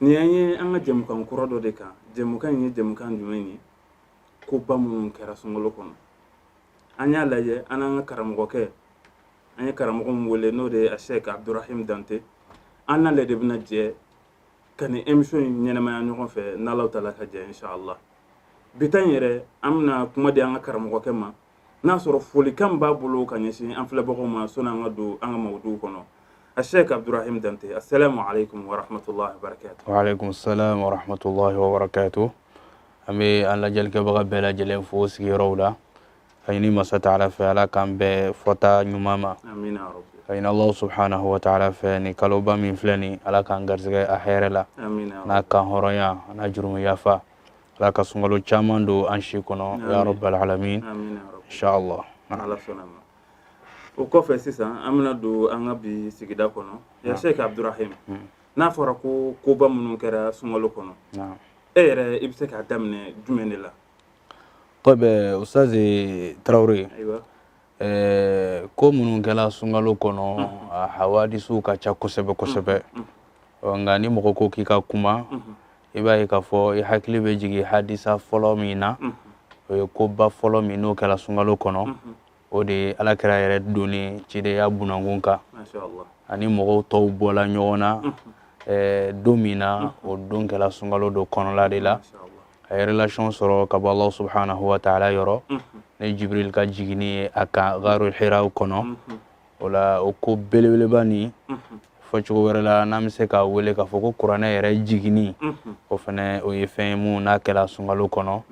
Nin y'an ye an ka jɛmukan kura dɔ de kan jɛmukan in ye jɛmukan jumɛn ye ko ba minnu kɛra sunkalo kɔnɔ an y'a lajɛ an n'an ka karamɔgɔkɛ an ye karamɔgɔ min wele n'o de ye asɛki abdurahim dante an n'ale de bɛna jɛ ka nin émission in ɲɛnamaya ɲɔgɔn fɛ n'Ala taala ka jɛn ye inchallah bi ta in yɛrɛ an bɛna kuma di an ka karamɔgɔkɛ ma n'a sɔrɔ folikan b'a bolo ka ɲɛsin an filɛbagaw ma sanni an ka don an ka mawudu kɔnɔ asɛki abudurahim dante asalamu alekum warahamatulahi wabarakatu walekum salam warahamatulahi wabarakatu an bɛ an lajɛlikɛbaga bɛɛ lajɛlen fo sigiyɔrɔw la ka ɲini masa taala fɛ ala k'an bɛɛ fɔta ɲuman ma ka ɲini ala subhanahu wa ta'ala fɛ nin kaloba min filɛ nin ala k'an garisɛgɛ a hɛrɛ la n'a kanhɔrɔnya n'a jurumuyafa Ala ka sunkalo caman don an si kɔnɔ amina yarabal alamin amina yarabi inchallah n'Ala sɔnna ma o kɔfɛ sisan an bɛna don an ka bi sigida kɔnɔ ya Sɛki Abudurahimu n'a fɔra ko koba minnu kɛra sunkalo kɔnɔ naam e yɛrɛ i bɛ se k'a daminɛ jumɛn de la tɔyib ustazi Tarawele ayiwa ɛɛ ko minnu kɛra sunkalo kɔnɔ a hawadisiw ka ca kosɛbɛ kosɛbɛ ɔ nka ni mɔgɔ ko k'i ka kuma i b'a ye k'a fɔ i hakili bɛ jigin hadisa fɔlɔ min na o ye koba fɔlɔ min n'o kɛra sunkalo kɔnɔ o de ye ala kira yɛrɛ donni cidenya bunankun kan a ni mɔgɔw tɔw bɔla ɲɔgɔn na don min na o don kɛra sunkalo don kɔnɔla de la a ye relation sɔrɔ ka bɔ Alahu subahana wataala yɔrɔ ni Jibirili ka jiginni ye a kan gaaru hira kɔnɔ o la o ko belebeleba nin fɔ cogo wɛrɛ la n'an bɛ se k'a wele k'a fɔ ko kuranɛ yɛrɛ jiginni o fana o ye fɛn ye min n'a kɛra sunkalo kɔnɔ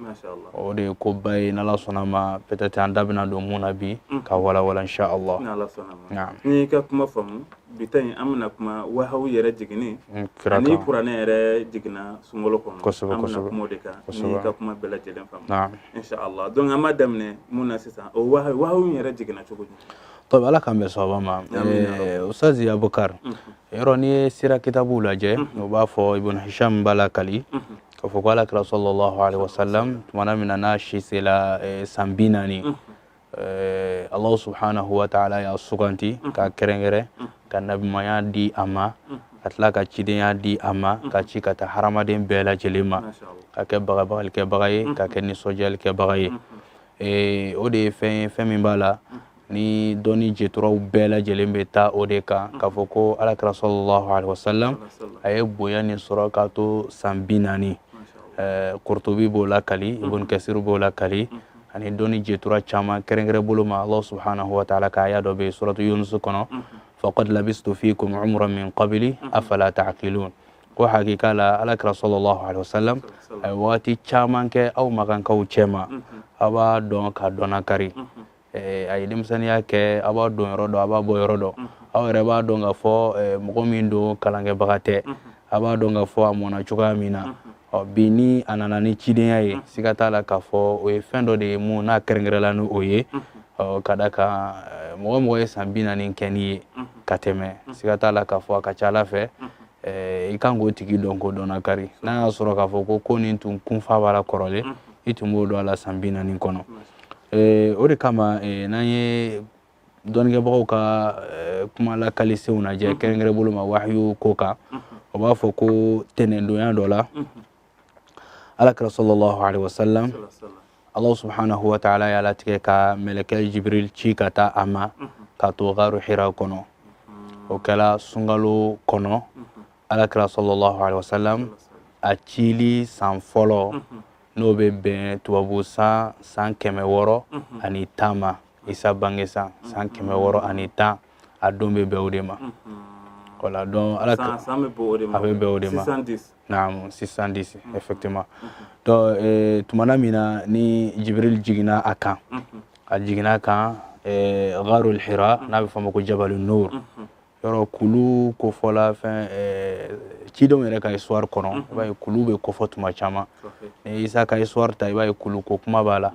o de ye ko ba ye n'ala sɔnna ma peut-être an da bɛna don min na bi ka walawala insha Allah ni n y'i ka kuma faamu bi ta in an bɛna kuma wahayu yɛrɛ jiginni ani kuranɛ yɛrɛ jiginna sunkalo kɔnɔ kosɛbɛ an bɛna kuma o de kan ni n y'i ka kuma bɛɛ lajɛlen faamu insha Allah donc an b'a daminɛ mun na sisan o wahayu yɛrɛ jiginna cogo di To ala k'an bɛn sawaba ma ustazi Abubakari yɔrɔ n'i ye sira kitabuw lajɛ o b'a fɔ ibn Hisham b'a lakali k'a fɔ k' ala kira sɔlɔlahu alaihi wasalam tuma na min na n'a si sera san bi naani alahu subhanahu wa taala y'a suganti k'a kɛrɛnkɛrɛn ka nabiɲumaya di a ma ka tila ka cidenya di a ma k'a ci ka taa hadamaden bɛɛ lajɛ lajɛlen ma k'a kɛ bagabagalikɛbaga ye k'a kɛ nisɔndiyalikɛbaga ye ee o de ye fɛn ye fɛn min b'a la ni dɔnni jeturaw bɛɛ lajɛlen bɛ taa o de kan k'a fɔ ko ala kira sɔlɔlahu alaihi wasalam a ye bonya nin sɔrɔ k'a to san bi naani kurtubi b'o lakali ibn kasir b'o lakali ani dɔnni jetura caman kɛrɛnkɛrɛn bolo ma allah subhanahu wa taala ka aya dɔ bɛ yen suratu yunusu kɔnɔ faqad labistu fikum umuran min qabili afala ta'qilun ko hakika la alakira sallallahu alaihi wasallam a ye waati caman kɛ aw makankaw cɛma a b'a dɔn ka dɔnnakari a ye denmisɛnniya kɛ a b'a donyɔrɔ dɔn a b'a bɔyɔrɔ dɔn aw yɛrɛ b'a dɔn k'a fɔ mɔgɔ min don kalankɛbaga tɛ a b'a dɔn k'a fɔ a mɔna cogoya min na ɔ bi ni a nana ni cidenya ye siga t'a la k'a fɔ o ye fɛn dɔ de ye mun n'a kɛrɛnkɛrɛnla ni o ye ɔ ka d'a kan mɔgɔ o mɔgɔ ye san bi naani kɛ n'i ye ka tɛmɛ siga t'a la k'a fɔ a ka c'a la fɛ i kan k'o tigi dɔn k'o dɔnnakari n'a y'a sɔrɔ k'a fɔ ko ko nin tun kunfa b'a la kɔrɔlen mhm. i tun b'o dɔn a la san bi naani kɔnɔ o de kama n'an ye dɔnnikɛbagaw ka kuma lakalisenw lajɛ mhm. kɛrɛnkɛrɛn bolo ma wahayu ko kan mhm. o b'a fɔ ko tɛnɛndonya dɔ la alakira sallallahu alaihi wasallam allah subhanahu wa ta'ala y'a latigɛ ka mɛlɛkɛ jibril ci ka taa a ma k'a to garu hira kɔnɔ o kɛra sunkalo kɔnɔ alakira sallallahu alaihi wasallam a cili san fɔlɔ n'o bɛ bɛn tubabu san san kɛmɛ wɔɔrɔ ani tan ma isa bange san san kɛmɛ wɔɔrɔ ani tan a don bɛ bɛn o de ma voilà donc ala a bɛ bɛn o de ma naam six cent dix mm-hmm. effectivement mm-hmm. donc eh, tumana min na ni jibril jiginna a kan mm-hmm. a jiginna a kan eh, gharul hira n'a bɛ fɔ a ma ko jabalu nur yɔrɔ kulu kofɔla fɛn eh, cidenw yɛrɛ ka histoire kɔnɔ i b'a ye kulu bɛ kofɔ tuma caman ni isa ka histoire ta i b'a ye kulu ko kuma b'a la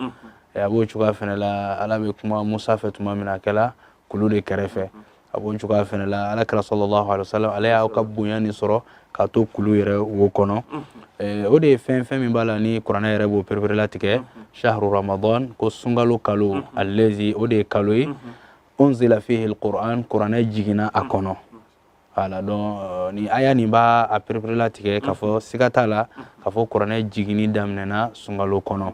a b'o cogoya fɛnɛ la ala bɛ kuma musa fɛ tuma min na a kɛla kulu de kɛrɛfɛ a b'o cogoya fana la ala kira sallallahu alaihi wasallam ale y'a ka bonya nin sɔrɔ k'a to kulu yɛrɛ wo kɔnɔ eh, o de ye fɛn fɛn min b'a la ni kuranɛ yɛrɛ b'o pereperelatigɛ shahru ramadan ko sunkalo kalo allazi o de ye kalo ye unzila fihi alquran kuranɛ jiginna a kɔnɔ voilà donc euh, ni aya nin b'a pereperelatigɛ k'a fɔ siga t'a la k'a fɔ kuranɛ jiginni daminɛna sunkalo kɔnɔ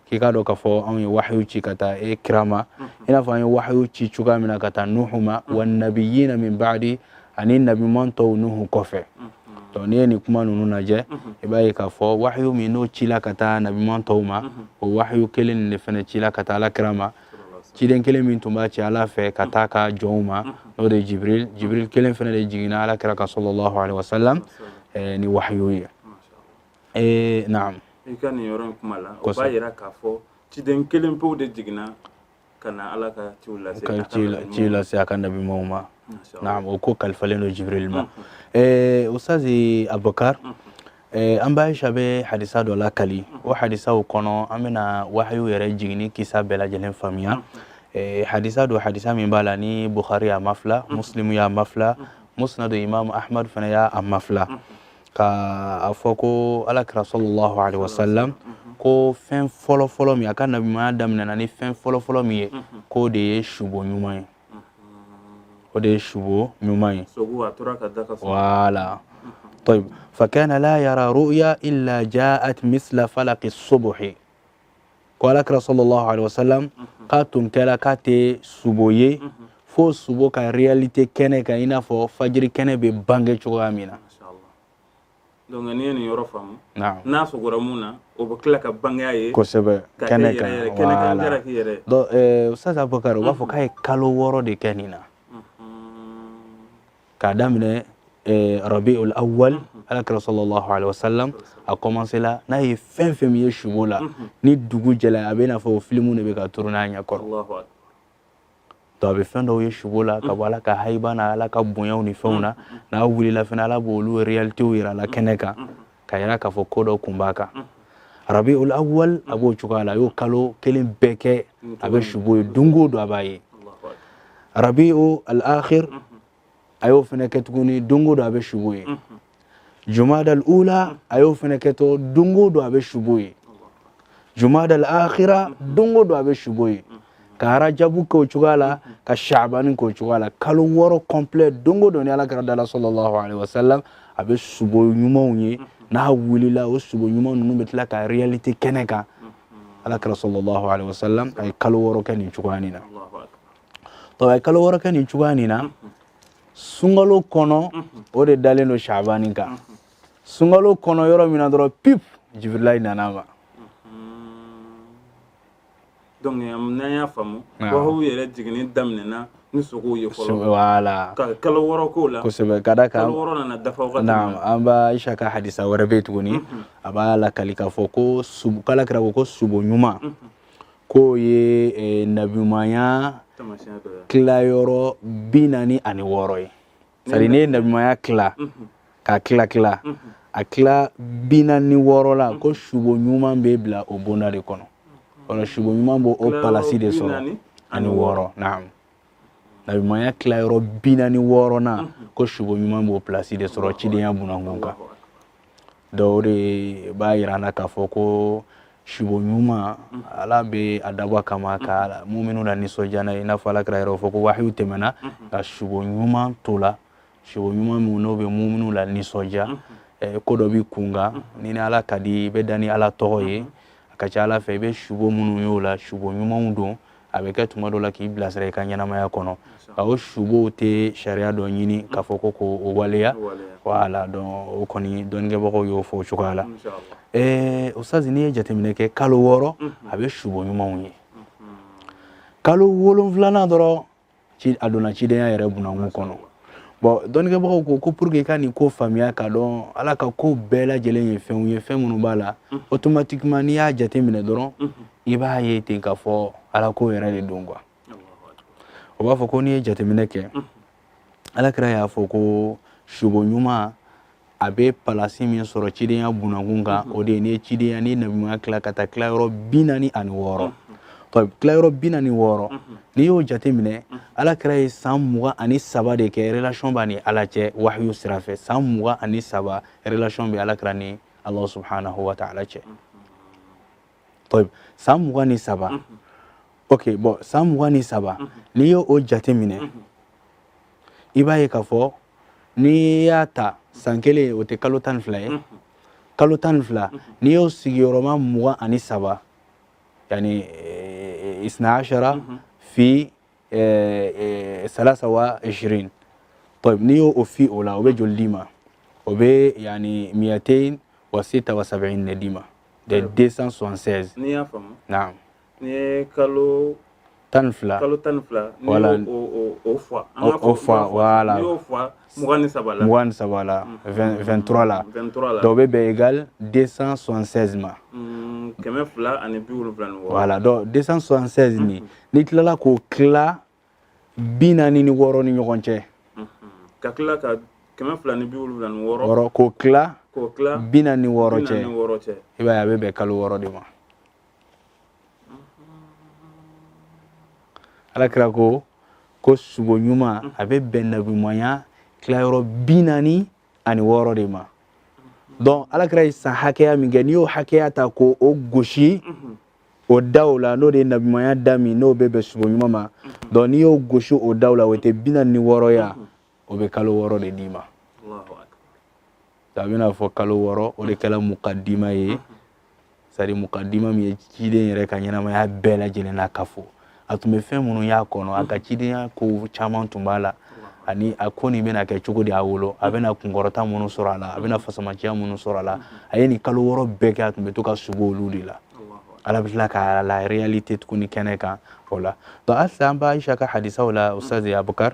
k'i k'a dɔn k'a fɔ anw ye wahayu ci ka taa e kira ma i n'a fɔ an ye wahayu ci cogoya min na ka taa nuhu ma wa nabiyina min ba'di ani nabiman tɔw nuhu kɔfɛ donc n'i ye nin kuma ninnu lajɛ i b'a ye k'a fɔ wahayu min n'o cila ka taa nabiman tɔw ma o wahayu kelen nin de fana cila ka taa ala kira ma ciden kelen min tun bɛ ci ala fɛ ka taa a ka jɔnw ma n'o de ye jibril jibril kelen fana de jiginna ala kira kan sallallahu alaihi wasallam ni wahayu ye ee naam i ka nin yɔrɔ in kuma la o b'a jira k'a fɔ ciden kelen pewu de jiginna ka na ala ka ciw lase ka ciw lase a ka nabi ɲumanw ma na o ko kalifalen don jibril ma ee ustazi abubakar an ba aisha bɛ hadisa dɔ lakali o hadisaw kɔnɔ an bɛna wahayu yɛrɛ jiginni kisa bɛɛ lajɛlen faamuya hadisa don hadisa min b'a la ni bukhari y'a mafila muslimu y'a mafila musnadu imam ahmad fana y'a mafila Ka a fɔ ko ala kira sallallahu alaihi wasallam ko fɛn fɔlɔ fɔlɔ min a ka nabiɲumanya daminɛna ni fɛn fɔlɔ fɔlɔ min ye k'o de ye subo ɲuman ye o de ye subo ɲuman ye fakana la yara ruya illa jaat misla falaki subuhi ko ala kira sallallahu alayhi wa salam mhm. k'a tun kɛra k'a tɛ subo ye mhm. fo subo ka réalité kɛnɛ kan i n'a fɔ fajiri kɛnɛ bɛ bange cogoya min na donc n'i ye nin yɔrɔ faamu n'a sugora min na o bɛ tila ka bange a ye kosɛbɛ kɛnɛ kan voilà donc eh, ustaz abubakar u b'a fɔ mhm. k'a ye kalo wɔɔrɔ de kɛ nin na k'a daminɛ eh, rabi ul awwal mhm. ala kira sallallahu alaihi wasallam a commencé la n'a ye fɛn fɛn min ye subo la mhm. ni dugu jɛla a bɛ n'a fɔ filimu de bɛ ka tourner a ɲɛ kɔrɔ donc a bɛ fɛn dɔw ye subo la ka bɔ ala ka hayiba na ala ka bonyaw ni fɛnw na n'a wulila fana ala b'olu réalitéw yira a la kɛnɛ kan k'a yira k'a fɔ ko dɔ kun b'a kan rabi ul awwal a b'o cogoya la a y'o kalo kelen bɛɛ kɛ a bɛ subo ye don o don a b'a ye rabiu al akhir a y'o fana kɛ tuguni don o don a bɛ subo ye jumada al ula a y'o fana kɛ tɔ don o don a bɛ subo ye jumada al akhira don o don a bɛ subo ye ka arajabu k'o cogoya la ka shabani k'o cogoya la kalo wɔɔrɔ complet don o don ni ala kira dala sallallahu alaihi wasallam a bɛ subo ɲumanw ye n'a wulila o subo ɲuman ninnu bɛ tila ka réalité kɛnɛ kan ala kira sallallahu alaihi wasallam a ye kalo wɔɔrɔ kɛ nin cogoya nin na to a ye kalo wɔɔrɔ kɛ nin cogoya nin na sunkalo kɔnɔ o de dalen don shabani kan sunkalo kɔnɔ yɔrɔ min na dɔrɔn pip jibirilayi nana a ma donc n'an y'a faamu wahayu yɛrɛ jiginni daminɛna ni sugow ye fɔlɔ voilà ka kalo wɔɔrɔ k'o la kosɛbɛ ka da kan kalo wɔɔrɔ nana dafa wagati na an ba aisha ka hadisa wɛrɛ bɛ yen tuguni a b'a lakali k'a fɔ ko subo k'ala kira ko ko subo ɲuman k'o ye eh, nabimanya kilayɔrɔ bi naani ani wɔɔrɔ ye c'est-à-dire n'i ye nabimaya kila k'a kila kila a kila bi naani ni wɔɔrɔ la ko subo ɲuman bɛ bila o bonda de kɔnɔ ɔlɔ subo ɲuman b'o o palasi de sɔrɔ ani wɔɔrɔ naam nabimaya kila yɔrɔ bi naani wɔɔrɔnan ko subo ɲuman b'o palasi de sɔrɔ cidenya bunakun kan donc o de b'a jira an na k'a fɔ ko sibo ɲuman ala bɛ a dabɔ kama ka muminuw lanisɔndiya i n'a fɔ ala kira yɛrɛ y'a fɔ ko wahiw tɛmɛna ka sibo ɲuman to la sibo ɲuman min n'o bɛ muminuw lanisɔndiya ko dɔ b'i kunkan n'i ni ala ka di i bɛ da ni ala tɔgɔ ye a ka ca ala fɛ i bɛ sibo minnu y'o la sibo ɲumanw don a bɛ kɛ tuma dɔ la k'i bilasira i ka ɲɛnamaya kɔnɔ ka o subow tɛ sariya dɔ ɲini k'a fɔ ko ko o waleya wala dɔn o kɔni dɔnnikɛbagaw y'o fɔ o cogoya la ɛɛ ustaz n'i ye jateminɛ kɛ kalo wɔɔrɔ a bɛ subo ɲumanw ye kalo wolonfilanan dɔrɔn ci a donna cidenya yɛrɛ bunakun kɔnɔ bɔn dɔnnikɛbagaw ko ko pour que i ka nin kow faamuya k'a dɔn ala ka kow bɛɛ lajɛlen ye fɛnw ye fɛn minnu b'a la mhm. automatiquement n'i y'a jate minɛ dɔrɔn mhm. i b'a ye ten k'a fɔ ala ko yɛrɛ de don quoi o b'a fɔ ko n'i ye jateminɛ kɛ mhm. ala kira y'a fɔ ko subo ɲuman a bɛ palasi min sɔrɔ cidenya bunakun kan o de ye n'i ye cidenya ni nabiya tila ka taa tilayɔrɔ bi naani ani wɔɔrɔ tilayɔrɔ bi naani wɔɔrɔ n'i y'o jate minɛ ala kira ye san mugan ani saba de kɛ relation b'a ni ala cɛ wahayu sira fɛ san mugan ani saba relation bɛ ala kira ni ala subhanahu wa ta'ala cɛ san mugan ni saba ok bɔn san mugan ni saba n'i y'o jate minɛ i b'a ye k'a fɔ n'i y'a ta san kelen o tɛ kalo tan ni fila ye kalo tan ni fila n'i y'o sigiyɔrɔma mugan ani saba yani eh, isna ashara fi eh, eh, salasa wa ishirin tayib n'i y'o o fi o la o bɛ joli d'i ma o bɛ yani miyatein wa sita wa sabɛin de d'i ma de 276 n'i y'a faamu naam N'i ye kalo tan fila kalo tan fila wala ni saba la 23 la o bɛ bɛn yani 276 ma kɛmɛ fila ani wala 276 n'i tilala k'o tila bi naani ni wɔɔrɔ ni ɲɔgɔn cɛ ka tila ka kɛmɛ fila ni wɔɔrɔ k'o tila bi naani wɔɔrɔ cɛ i a bɛ bɛn kalo wɔɔrɔ de ma ala kira ko ko subo ɲuman a bɛ bɛn nabimanya tilayɔrɔ bi naani ani wɔɔrɔ de ma donc ala kira ye san hakɛya min kɛ n'i y'o hakɛya ta k'o gosi o daw la n'o de ye nabimanya da min n'o bɛ bɛn subo ɲuman ma donc n'i y'o gosi o daw la o tɛ bi naani ni wɔɔrɔ ya o bɛ kalo wɔɔrɔ de d'i ma a bɛna fɔ kalo wɔɔrɔ o de kɛra mukadima ye sari mukadima min ye ciden yɛrɛ ka ɲɛnamaya bɛɛ lajɛlen na k'a fɔ a tun bɛ fɛn minnu y'a kɔnɔ a ka cidenya ko caman tun b'a la ani a ko nin bɛna kɛ cogo di a wolo a bɛna kunkɔrɔta minnu sɔrɔ a la a bɛna fasamaciya minnu sɔrɔ a la a ye nin kalo wɔɔrɔ bɛɛ kɛ a tun bɛ to ka subo olu de la ala bɛ tila ka la réalité tuguni kɛnɛ kan o la donc halisa an bɛ ayisa ka hadisaw la ustaz abukar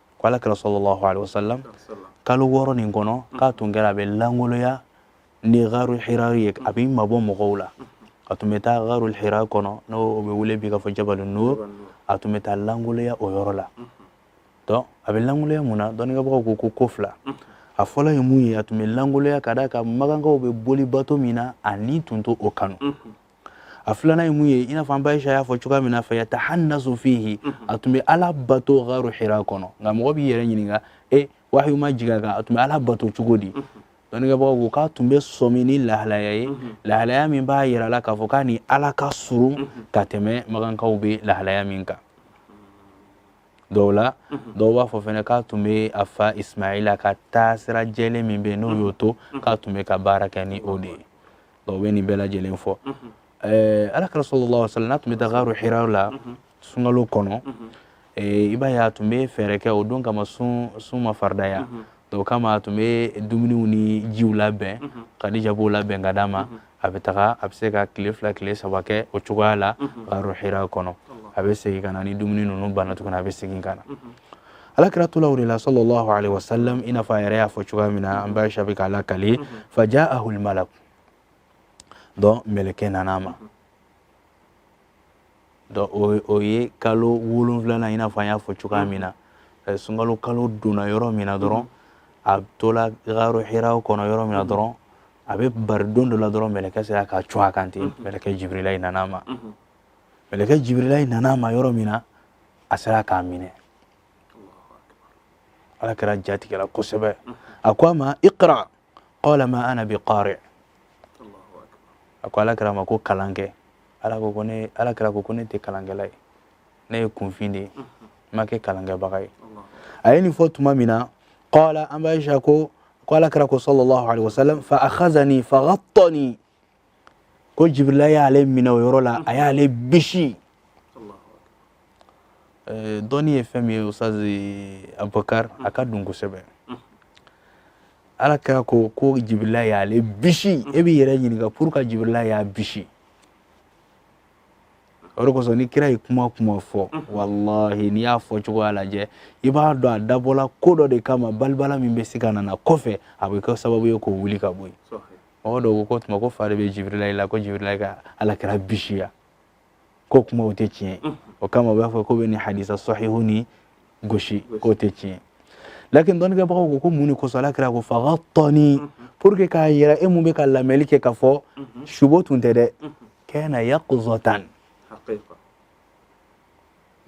ko ala kira sallallahu alaihi wasallam kalo wɔɔrɔ nin kɔnɔ mm. k'a tun kɛra a bɛ langoloya ni garu hira ye a bɛ mabɔ mɔgɔw la mm. a tun bɛ taa garu hira kɔnɔ n'o bɛ wele bi k'a fɔ jabalu nur a tun bɛ taa langoloya o yɔrɔ la mm. donc a bɛ langoloya mun na dɔnnikɛbagaw ko ko ko fila a fɔlɔ ye mun ye a tun bɛ langoloya ka d'a kan makankaw bɛ boli bato min na a ni tun t'o kanu a filanan ye mun ye i n'a fɔ an ba aisha y'a fɔ cogoya min na fa yatahannasu fihi a tun bɛ ala bato garu hira kɔnɔ nka mɔgɔ b'i yɛrɛ ɲininka e wahiyu ma jigin a kan a tun bɛ ala bato cogo di dɔnnikɛbagaw ko k'a tun bɛ sɔmi ni lahalaya ye lahalaya min b'a yira la k'a fɔ k'a ni ala ka surun ka tɛmɛ makankaw bɛ lahalaya min kan dɔw la dɔw b'a fɔ fɛnɛ k'a tun bɛ a fa ismaila ka taasira jɛlen min bɛ yen n'o y'o to k'a tun bɛ ka baara kɛ ni o de ye dɔw bɛ nin bɛɛ lajɛlen fɔ eh, ala kira sallallahu wasallam n'a tun bɛ taa garu hira la sunkalo kɔnɔ eh, i b'a ye a tun bɛ fɛɛrɛ kɛ o don kama sun sun ma faridaya o kama a tun bɛ dumuniw ni jiw labɛn kadija b'o labɛn ka d'a ma a bɛ taga a bɛ se ka tile fila tile saba kɛ o cogoya la garu hira kɔnɔ a bɛ segin ka na ni dumuni ninnu banna tuguni a bɛ segin ka na ala kira tola o de la sallallahu alaihi wasallam i n'a fɔ a yɛrɛ y'a fɔ cogoya min na an ba aisha bɛ k'a lakali faja ahul malak donc mɛlɛkɛ nana a ma donc o ye kalo wolonwulanan i n'a fɔ an y'a fɔ cogoya min na sunkalo kalo donna yɔrɔ min na dɔrɔn a tola garu hira kɔnɔ yɔrɔ min na dɔrɔn a bɛ bari don dɔ la dɔrɔn mɛlɛkɛ sera ka cun a kan ten mɛlɛkɛ jibirila i nana a ma mɛlɛkɛ jibirilayi nana a ma yɔrɔ min na a sera k'a minɛ ala kira jatigɛla kosɛbɛ a ko a ma iqra qala ma ana bi qari a ko ala kira ma ko kalan kɛ ala ko ko ne ala kira ko ko ne tɛ kalankɛla ye ne ye kunfin de ye n ma kɛ kalankɛbaga ye a ye nin fɔ tuma min na qala an ba aisha ko ala kira ko sallallahu alaihi wasallam fa akhazani fa ghattani ko jibirila y'ale minɛ o yɔrɔ la a y'ale bisi eh, dɔnni ye fɛn min ye ustazi abubakar a ka dun kosɛbɛ ala kira ko ko jibirila y'ale bisi e b'i yɛrɛ ɲininka pourquoi jibirila y'a bisi o de kosɔn ni kira ye kuma kuma fɔ walahi n'i y'a fɔ cogoya lajɛ i b'a dɔn a dabɔla ko dɔ de kama balibala min bɛ se ka na kɔfɛ a bɛ kɛ sababu ye k'o wuli ka bɔ yen mɔgɔ dɔw ko k'o tuma ko fa de bɛ jibirila la ko jibirila ka ala kira bisiya ko kuma o tɛ tiɲɛ o kama u b'a fɔ k'u bɛ nin hadisi sahihu nin gosi k'o tɛ tiɲɛ lakin dɔnnikɛbagaw ko ko mun de kosɔn ala kira ko fa ghattani pour que k'a yira e min bɛ ka lamɛnli kɛ k'a fɔ sugo tun tɛ dɛ kana yaqazatan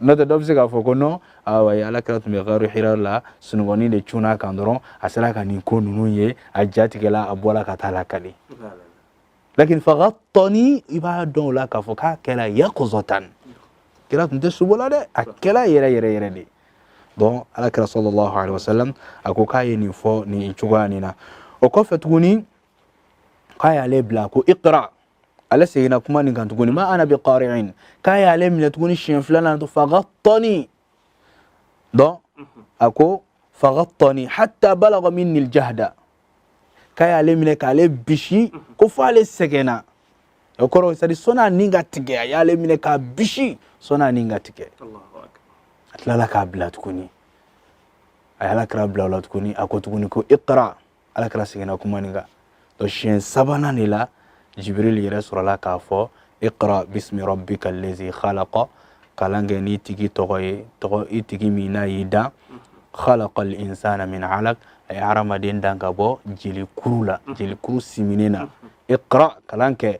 n'o tɛ dɔ bɛ se k'a fɔ ko non awa ala kira tun bɛ garu hira la sunɔgɔni de cunna a kan dɔrɔn a sera ka nin ko ninnu ye a jatigɛla a bɔra ka taa a lakali lakin fagattani i b'a dɔn o la k'a fɔ k'a kɛra yaqazatan kira tun tɛ sugo la dɛ a kɛra yɛrɛ yɛrɛ yɛrɛ de donc ala kira sallallahu alaihi wasallam a ko k'a ye nin fɔ nin cogoya nin na o kɔfɛ tuguni k'a y'ale bila ko iqra ale seginna kuma nin kan tuguni ma ana bi qari'in k'a y'ale minɛ tuguni siɲɛ filanan to fagattani dɔn a ko fagattani hatta balaga minni ljahda k'a y'ale minɛ k'ale bisi ko fo ale sɛgɛnna o kɔrɔ sadi sɔɔni a ni ka tigɛ a y'ale minɛ k'a bisi sɔɔni a ni ka tigɛ a tilala k'a bila tuguni a ye ala kira bila o la tuguni a ko tuguni ko iqra ala kira seginna kuma nin kan to siɲɛ sabanan de la jibiril yɛrɛ sɔrɔla k'a fɔ iqra bismi rabbika allazi khalaqa kalan kɛ n'i tigi tɔgɔ ye i tigi min n'a y'i dan khalaqa al insana min alaq a ye hadamaden dan ka bɔ jelikuru la jelikuru siminen na iqra kalan kɛ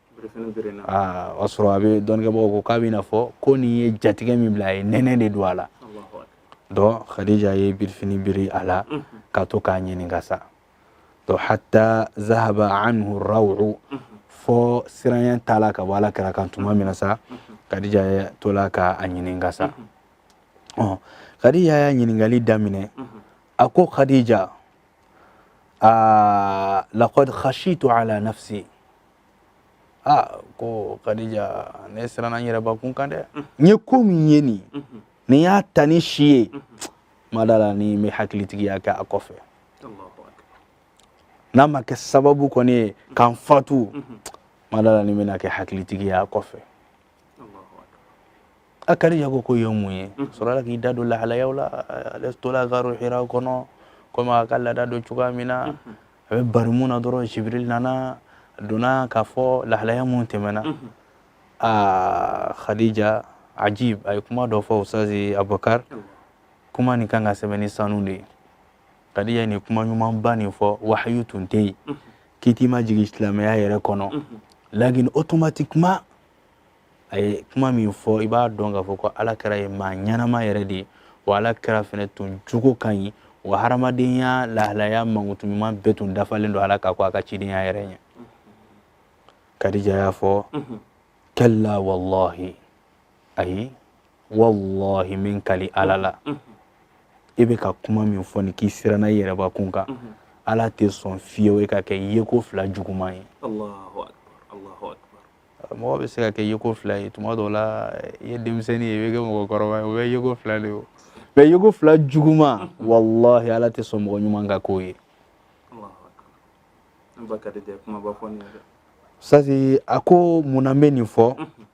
aa o y'a sɔrɔ a bɛ dɔnnikɛbagaw ko k'a bɛ i n'a fɔ ko nin ye jatigɛ min bila a ye nɛnɛ de don a la dɔn khadija ye birifini biri a la ka to k'a ɲininka sa dɔn hatta zahaba anhu raw'u fɔ siranya taala ka bɔ ala kira kan tuma min na sa khadija ye tola ka a ɲininka sa ɔ khadija y'a ɲininkali daminɛ a ko khadija aa laqad khashitu ala nafsi aa ko kadija ne siranna n yɛrɛbakun kan dɛ n ye ko min ye nin ni n y'a ta ni si ye n ma da a la ni n bɛ hakilitigiya kɛ a kɔfɛ n'a ma kɛ sababu kɔni ye ka n fatu n ma da a la ni n bɛna kɛ hakilitigi ye a kɔfɛ a kadija ko ko e ye mun ye a sɔrɔla k'i da don lahalayaw la ale tola garu hira kɔnɔ komi a ka laada don cogoya min na a bɛ baara min na dɔrɔn jibril nana a donna k'a fɔ lahalaya min tɛmɛna aa khadija ajib a ye kuma dɔ fɔ ustazi abubakar kuma nin ka kan ka sɛbɛn ni sanu de ye kadija ye nin kuma ɲumanba nin fɔ wahayu tun tɛ yen kiti ma jigin silamɛya yɛrɛ kɔnɔ lakin automatiquement a ye kuma min fɔ i b'a dɔn k'a fɔ ko ala kira ye maa ɲɛnama yɛrɛ de ye wa ala kira fɛnɛ tun jogo ka ɲi wa hadamadenya lahalaya mankutu ɲuman bɛɛ tun dafalen don a la ka kɔn a ka cidenya yɛrɛ ɲɛ kadija y'a fɔ kalla wallahi ayi wallahi n bɛ n kali ala la e bɛ ka kuma min fɔ nin k'i siranna i yɛrɛbakun kan ala tɛ sɔn fewu e ka kɛ yeko fila juguman ye mɔgɔ bɛ se ka kɛ yeko fila ye tuma dɔw la i ye denmisɛnnin ye i bɛ kɛ mɔgɔkɔrɔba ye o bɛɛ yeko fila de ye mais yeko fila juguman wallahi ala tɛ sɔn mɔgɔ ɲuman ka k'o ye sasi a ko mun na n bɛ nin fɔ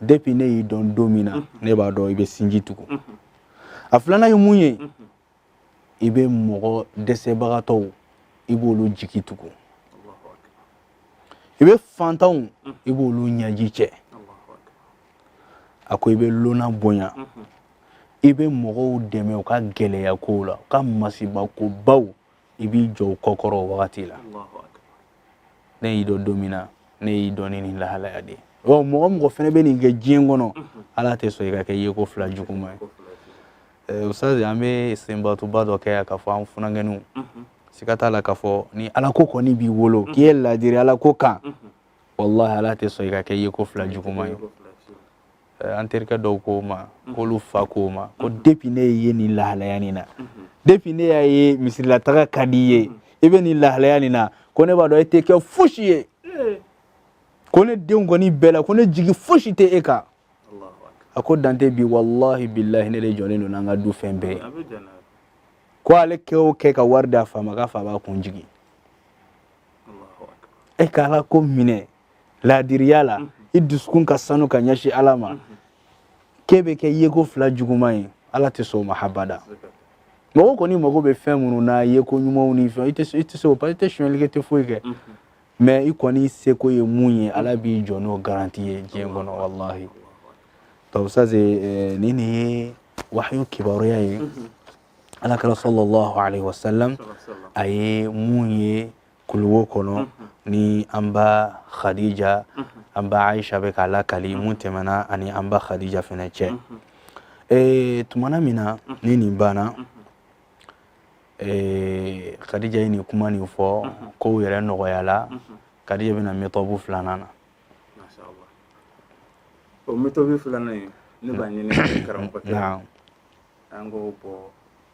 depuis ne y'i dɔn don min na ne b'a dɔn i bɛ sinji tugu a filanan ye mun ye i bɛ mɔgɔ dɛsɛbagatɔw i b'olu jigi tugu i bɛ fantanw i b'olu ɲɛji cɛ a ko i bɛ lonan bonya i bɛ mɔgɔw dɛmɛ u ka gɛlɛya kow la u ka masibakobaw i b'i jɔ u kɔkɔrɔ o wagati la ne y'i dɔn don min na ne y'i dɔn ni nin lahalaya de ye mɔgɔ o mɔgɔ fɛnɛ bɛ nin kɛ diɲɛ kɔnɔ ala tɛ sɔn i ka kɛ yeko fila juguma ye ustazi an bɛ istinbatuba dɔ kɛ yan k'a fɔ an funankɛninw siga t'a la k'a fɔ ni alako kɔni b'i bolo k'i ye laadiri alako kan walahi ala tɛ sɔn i ka kɛ yeko fila juguma ye eh, an terikɛ dɔ ko n ma mhm. k'olu fa k'o ma ko mhm. depuis ne ye nin lahalaya nin na mhm. depuis ne y'a ye misirilataga ka di i ye i bɛ nin lahalaya nin na ko ne b'a dɔn e tɛ kɛ fosi ye eh. ko ne denw kɔni bɛɛ la ko ne jigi fosi tɛ e kan a ko dante bi walahi bilahi ne de jɔlen don n'an ka du fɛn bɛɛ ye ko ale kɛ o kɛ ka wari d'a fa ma k'a fa b'a kun jigin e ka alako minɛ laadiriya la i dusukun ka sanu ka ɲɛsin ala ma k'e bɛ kɛ yeko fila juguman ye ala tɛ sɔn o ma habada mɔgɔ kɔni mago bɛ fɛn minnu na yeko ɲumanw ni fɛn i tɛ i tɛ se o parce que i tɛ sonyɛli kɛ i tɛ foyi kɛ mais i kɔni seko ye mun ye ala b'i jɔ n'o garanti ye diɲɛ kɔnɔ walahi donc ça c'est eh, nin de ye wahayu kibaruya ye ala kira sallallahu alaihi wasallam a ye mun ye kuluwo kɔnɔ ni an ba khadija an ba aisha bɛ k'a lakali mun tɛmɛna a ni an ba khadija fɛnɛ cɛ ee tumana min na ni nin banna ee khadija ye nin kuma nin fɔ kow yɛrɛ nɔgɔyala khadija bɛna méthode filanan na o méthode filanan ye ne b'a ɲini karamɔgɔkɛ an k'o bɔ